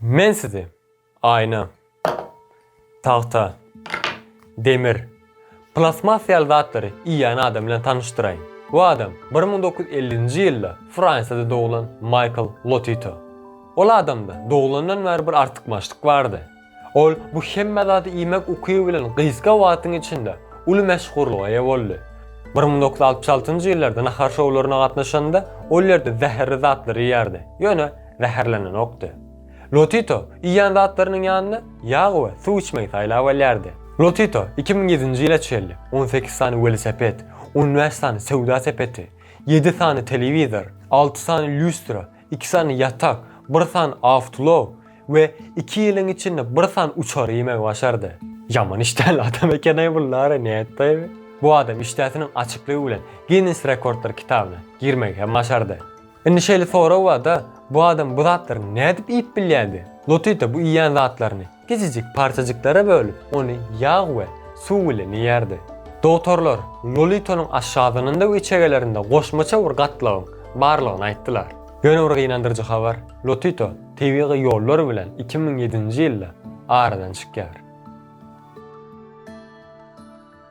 Men sizi aýna, tagta, demir, plastmas ýaly zatlary iýýän adam bilen tanyşdyraýyn. Bu adam bir müň dokuz ýüz ellinji ýylda Fransiýada doglan Maýkl Lotito. Ol adamda doglandan bäri bir artykmaçlyk bardy. Ol bu hemme zady iýmek ukyby bilen gysga wagtyň içinde uly meşhurlyga eýe boldy. Bir müň dokuz ýüz altmyş altynjy ýyllarda nahar şowlaryna gatnaşanda ol ýerde zäherli zatlary iýerdi. Ýöne zäherlenenokdy. Lotito iýýän zatlarynyň ýanyna ýag we suw içmegi saýlap alýardy. Lotito iki müň ýedinji ýyla çenli on sekiz sany welosiped, on bäş sany söwda sepeti, ýedi sany telewizor, alty sany lýustra, iki sany ýatak, bir sany awtoulag we iki ýylyň içinde bir sany uçar iýmegi başardy. Ýaman işdäli adam eken-aý bu Lara nätdi? Bu adam işdäsiniň açyklygy bilen Ginness rekordlar kitabyna girmegi hem başardy. Indi şeýle sorag bar-da, bu adam bu zatlary nädip iýip bilýärdi? Lotita bu iýýän zatlaryny kiçijik parçajyklara bölüp, ony ýag we suw bilen iýýärdi. Dogtorlar Lolitanyň aşgazanynda we içegelerinde goşmaça bir gatlagyň barlygyny aýtdylar. Ýöne bir gynandyryjy habar, Lotita tebigy ýollar bilen iki müň ýedinji ýylda aradan çykýar.